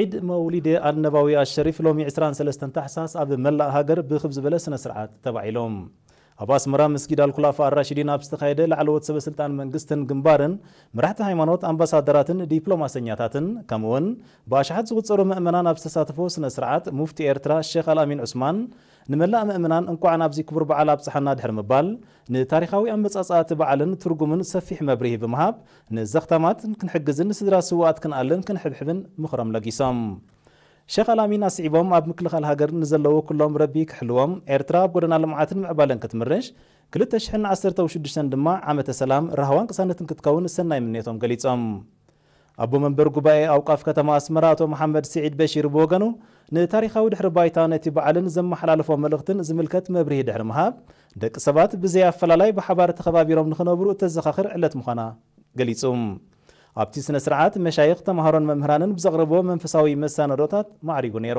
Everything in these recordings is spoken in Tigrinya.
ዒድ መውሊድ ኣልነባዊ ኣልሸሪፍ ሎሚ ዕስራን ሰለስተን ታሕሳስ ኣብ መላእ ሃገር ብኽብ ዝበለ ስነ ስርዓት ተባዒሉ። ኣብ ኣስመራ መስጊድ ኣልኩላፋ ኣልራሺዲን ኣብ ዝተኻየደ ላዕለዎት ሰበ ስልጣን መንግስትን ግንባርን፣ መራሕቲ ሃይማኖት፣ ኣምባሳደራትን ዲፕሎማሰኛታትን ከምኡ'ውን ብኣሽሓት ዝቑጸሩ መእመናን ኣብ ዝተሳተፍዎ ስነ ስርዓት ሙፍቲ ኤርትራ ሸኽ ኣልኣሚን ዑስማን ንመላእ መእመናን እንቋዕ ናብዚ ክቡር በዓል ኣብጽሓና ድሕሪ ምባል ንታሪኻዊ ኣመጻጽኣ እቲ በዓልን ትርጉምን ሰፊሕ መብርሂ ብምሃብ፣ ንዘኽታማት ክንሕግዝን ንስድራ ስዉኣት ክንኣልን ክንሕብሕብን ምኽሮም ለጊሶም። ሸኽ ኣልኣሚን ኣስዒቦም፣ ኣብ ምክልኻል ሃገር ንዘለዉ ኩሎም ረቢ ክሕልዎም፣ ኤርትራ ኣብ ጎደና ልምዓትን ምዕባለን ክትምርሽ፣ ክልተ ሽሕን ዓሰርተው ሽዱሽተን ድማ ዓመተ ሰላም፣ ራህዋን ቅሳነትን ክትከውን ሰናይ ምንዮቶም ገሊጾም። ኣቦ መንበር ጉባኤ ኣውቃፍ ከተማ ኣስመራ ኣቶ መሓመድ ስዒድ በሺር ብወገኑ፣ ንታሪኻዊ ድሕሪ ባይታ ነቲ በዓልን ዘመሓላለፎ መልእኽትን ዝምልከት መብርሂ ድሕሪ ምሃብ፣ ደቂ ሰባት ብዘይ ኣፈላላይ ብሓባር ተኸባቢሮም ንኽነብሩ እተዘኻኽር ዕለት ምዃና ገሊጹ። ኣብቲ ስነ-ስርዓት፣ መሻይኽ፣ ተመሃሮን መምህራንን ብዘቕረብዎ መንፈሳዊ መሰናድኦታት ማዕሪጉ ነይሩ።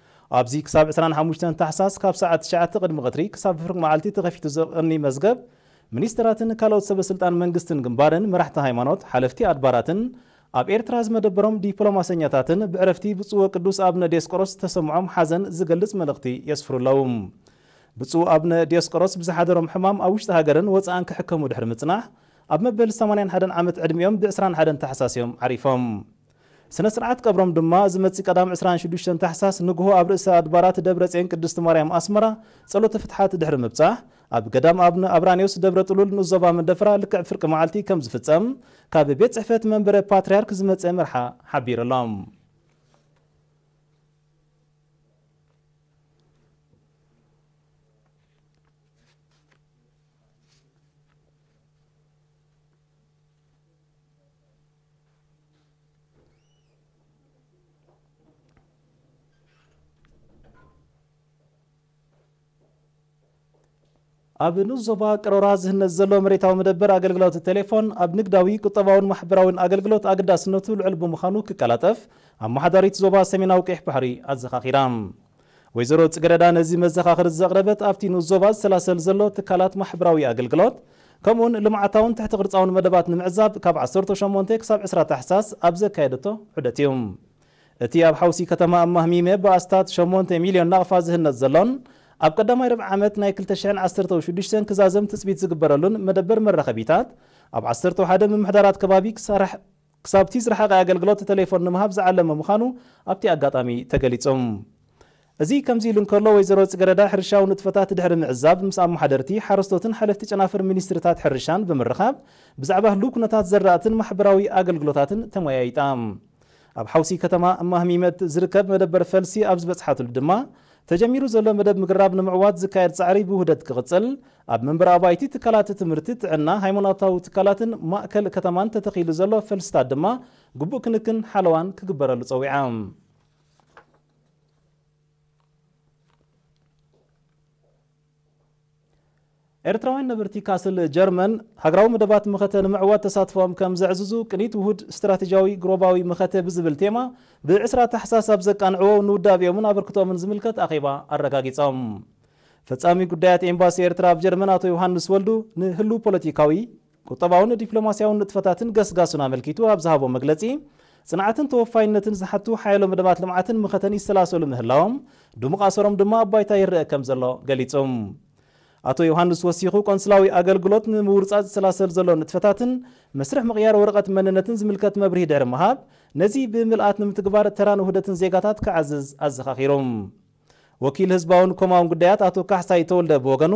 ኣብዚ ክሳብ ዕስራን ሓሙሽተን ታሕሳስ ካብ ሰዓት ትሽዓተ ቅድሚ ቀትሪ ክሳብ ፍርቂ መዓልቲ ተኸፊቱ ዝቕኒ መዝገብ ሚኒስተራትን ካልኦት ሰበ ስልጣን መንግስትን ግንባርን መራሕቲ ሃይማኖት ሓለፍቲ ኣድባራትን ኣብ ኤርትራ ዝመደበሮም ዲፕሎማሰኛታትን ብዕረፍቲ ብጹእ ወቅዱስ ኣብነ ዲዮስቆሮስ ዝተሰምዖም ሓዘን ዝገልጽ መልእኽቲ የስፍሩ ኣለዉ ብጹእ ኣብነ ዲዮስቆሮስ ብዝሓደሮም ሕማም ኣብ ውሽጢ ሃገርን ወጻእን ክሕከሙ ድሕሪ ምጽናሕ ኣብ መበል ሰማንያን ሓደን ዓመት ዕድሚኦም ብ ዕስራን ሓደን ታሕሳስ እዮም ዓሪፎም። ስነ ስርዓት ቀብሮም ድማ እዚ መፂ ቀዳም ዕስራን ሽዱሽተን ታሕሳስ ንጉሆ ኣብ ርእሰ ኣድባራት ደብረፅዮን ቅድስት ማርያም ኣስመራ ፀሎተ ፍትሓት ድሕሪ ምብፃሕ ኣብ ገዳም ኣብነ ኣብራንዮስ ደብረ ጥሉል ንኡስ ዞባ መንደፈራ ልክዕ ፍርቂ መዓልቲ ከም ዝፍፀም ካብ ቤት ፅሕፈት መንበረ ፓትርያርክ ዝመፀ መርሓ ሓቢሩ ኣሎ። ኣብ ንኡስ ዞባ ቀሮራ ዝህነጽ ዘሎ መሬታዊ መደበር ኣገልግሎት ቴሌፎን ኣብ ንግዳዊ፣ ቁጠባውን ማሕበራውን ኣገልግሎት ኣገዳስነቱ ልዑል ብምዃኑ ክቀላጠፍ ኣመሓዳሪት ዞባ ሰሜናዊ ቀይሕ ባሕሪ ኣዘኻኺራ። ወይዘሮ ጽገረዳ ነዚ መዘኻኽር ዘቕረበት ኣብቲ ንኡስ ዞባ ዝሰላሰል ዘሎ ትካላት ማሕበራዊ ኣገልግሎት ከምኡውን ልምዓታውን ትሕቲ ቅርጻውን መደባት ንምዕዛብ ካብ ዓሰርተ ሸሞንተ ክሳብ ዕስራ ታሕሳስ ኣብ ዘካየደቶ ዑደት እዩ። እቲ ኣብ ሓውሲ ከተማ ኣማህሚመ ብኣስታት ሸሞንተ ሚልዮን ናቕፋ ዝህነጽ ዘሎን ኣብ ቀዳማይ ርብዒ ዓመት ናይ ክልተ ሽሕን ዓሰርተው ሽዱሽተን ክዛዘም ትጽቢት ዝግበረሉን መደበር መራኸቢታት ኣብ ዓሰርተው ሓደ ምምሕዳራት ከባቢ ክሰራሕ ክሳብ'ቲ ዝረሓቐ ኣገልግሎት ተሌፎን ንምሃብ ዝዓለመ ምዃኑ ኣብ'ቲ ኣጋጣሚ ተገሊጹ። እዚ ከም'ዚ ኢሉ እንከሎ ወይዘሮ ጽገረዳ ሕርሻዊ ንጥፈታት ድሕሪ ምዕዛብ ምስ ኣመሓደርቲ፣ ሓረስቶትን ሓለፍቲ ጨናፍር ሚኒስትሪታት ሕርሻን ብምርኻብ ብዛዕባ ህሉው ኩነታት ዘራእትን ማሕበራዊ ኣገልግሎታትን ተመያይጣ። ኣብ ሓውሲ ከተማ እማህሚመት ዝርከብ መደበር ፈልሲ ኣብ ዝበጽሓትሉ ድማ ተጀሚሩ ዘሎ መደብ ምግራብ ንምዕዋት ዝካየድ ፃዕሪ ብውህደት ክቕፅል፣ ኣብ መንበሪ ኣባይቲ ትካላት ትምህርቲ፣ ጥዕና፣ ሃይማኖታዊ ትካላትን ማእከል ከተማን ተተኺሉ ዘሎ ፈልስታት ድማ ግቡእ ክንክን ሓለዋን ክግበረሉ ፀዊዓ። ኤርትራውያን ነበርቲ ካስል ጀርመን፣ ሃገራዊ መደባት መኸተ ንምዕዋት ተሳትፎኦም ከም ዘዕዝዙ ቅኒት ውሁድ ስትራቴጂያዊ ግሮባዊ መኸተ ብዝብል ቴማ ብ ዕስራ ታሕሳስ ኣብ ዘቃንዕዎ ንውዳቤኦምን ኣበርክቶኦምን ዝምልከት ኣኼባ ኣረጋጊጾም። ፈጻሚ ጉዳያት ኤምባሲ ኤርትራ ኣብ ጀርመን ኣቶ ዮሃንስ ወልዱ ንህሉው ፖለቲካዊ፣ ቁጠባውን ዲፕሎማስያውን ንጥፈታትን ገስጋሱን ኣመልኪቱ ኣብ ዝሃቦ መግለጺ፣ ጽንዓትን ተወፋይነትን ዝሓቱ ሓያሎ መደባት ልምዓትን መኸተን ይሰላሰሉ ምህላዎም፣ ድሙቕ ኣሰሮም ድማ ኣብ ባይታ ይረኣ ከምዘሎ ገሊጹ። ኣቶ ዮውሃንስ ወሲኹ፣ ቆንስላዊ ኣገልግሎት ንምውርጻጽ ዝሰላሰል ዘሎ ንጥፈታትን መስርሕ ምቕያር ወረቐት መንነትን ዝምልከት መብርሂ ድሕሪ ምሃብ፣ ነዚ ብምልኣት ንምትግባር ተራን ውህደትን ዜጋታት ክዓዝዝ ኣዘኻኺሩ። ወኪል ህዝባውን ኮማውን ጉዳያት ኣቶ ካሕሳይ ተወልደ ብወገኑ፣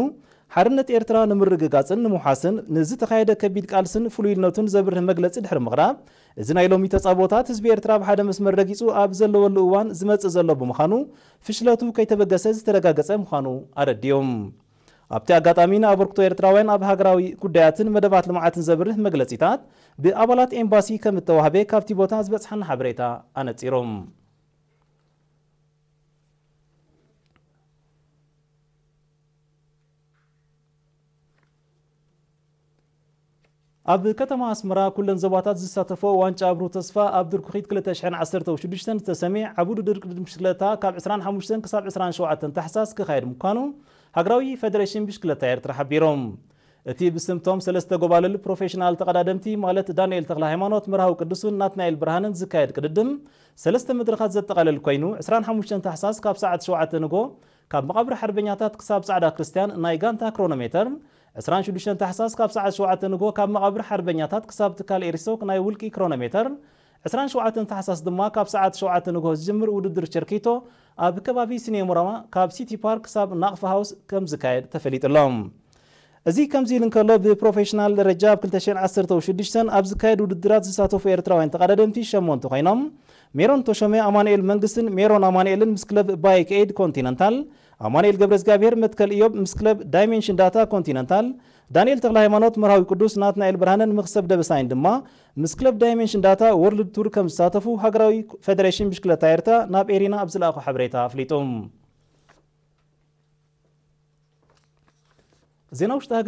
ሓርነት ኤርትራ ንምርግጋጽን ንምውሓስን ንዝተኻየደ ከቢድ ቃልስን ፍሉይልነቱን ዘብርህ መግለጺ ድሕሪ ምቕራብ፣ እዚ ናይ ሎሚ ተጻብኦታት ህዝቢ ኤርትራ ኣብ ሓደ መስመር ረጊጹ ኣብ ዘለወሉ እዋን ዝመጽእ ዘሎ ብምዃኑ ፍሽለቱ ከይተበገሰ ዝተረጋገጸ ምዃኑ ኣረዲኡ። ኣብቲ ኣጋጣሚ ንኣበርክቶ ኤርትራውያን ኣብ ሃገራዊ ጉዳያትን መደባት ልምዓትን ዘብርህ መግለጺታት ብኣባላት ኤምባሲ ከምእተዋህበ ካብቲ ቦታ ዝበጽሓና ሓበሬታ ኣነጺሩ። ኣብ ከተማ ኣስመራ ኩለን ዞባታት ዝሳተፎ ዋንጫ ኣብሩ ተስፋ ኣብ ድርኩኺት 2016 ዝተሰምየ ዓቢ ውድድር ቅድድም ብሽክለታ ካብ 25 ክሳብ 27 ታሕሳስ ክካየድ ምዃኑ ሃገራዊ ፈደሬሽን ብሽክለታ ኤርትራ ሓቢሮም። እቲ ብስም'ቶም ሰለስተ ጎባልል ፕሮፌሽናል ተቐዳደምቲ ማለት ዳንኤል ተኽለሃይማኖት፣ መርሃዊ ቅዱስን ናትናኤል ብርሃንን ዝካየድ ቅድድም ሰለስተ መድረኻት ዘጠቓለል ኮይኑ፣ ዕስራን ሓሙሽተን ታሕሳስ ካብ ሰዓት ሸውዓተ ንግሆ ካብ መቓብር ሓርበኛታት ክሳብ ጻዕዳ ክርስትያን ናይ ጋንታ ክሮኖሜተር፣ ዕስራን ሽዱሽተን ታሕሳስ ካብ ሰዓት ሸውዓተ ንግሆ ካብ መቓብር ሓርበኛታት ክሳብ ትካል ኤሪሶክ ናይ ውልቂ ክሮኖሜተር፣ ዕስራን ሸውዓተን ታሕሳስ ድማ ካብ ሰዓት ሸውዓተ ንግሆ ዝጅምር ውድድር ቸርኪቶ ኣብ ከባቢ ሲኔሞራማ ካብ ሲቲ ፓርክ ክሳብ ናቕፋ ሃውስ ከምዝካየድ ተፈሊጡ'ሎ። እዚ ከምዚ ኢሉ እንከሎ ብፕሮፌሽናል ደረጃ ኣብ ክልተ ሽሕን ዓሰርተው ሽዱሽተን ኣብ ዝካየድ ውድድራት ዝሳተፉ ኤርትራውያን ተቐዳደምቲ ሸሞንተ ኮይኖም ሜሮን ተሾመ፣ ኣማኑኤል መንግስትን ሜሮን ኣማኑኤልን ምስ ክለብ ባይክ ኤይድ ኮንቲነንታል፣ ኣማኑኤል ገብረእዝጋብሄር፣ መትከል እዮብ፣ ምስ ክለብ ዳይሜንሽን ዳታ ኮንቲነንታል፣ ዳንኤል ተክለሃይማኖት፣ መርሃዊ ቅዱስ፣ ናትናኤል ብርሃነን ምኽሰብ ደበሳይን ድማ ምስ ክለብ ዳይመንሽን ዳታ ዎርልድ ቱር ከም ዝሳተፉ ሃገራዊ ፈደሬሽን ብሽክለታ ኤርትራ ናብ ኤሪና ኣብ ዝለኣኾ ሓበሬታ ኣፍሊጡ። ዜና ውሽጢ ሃገር።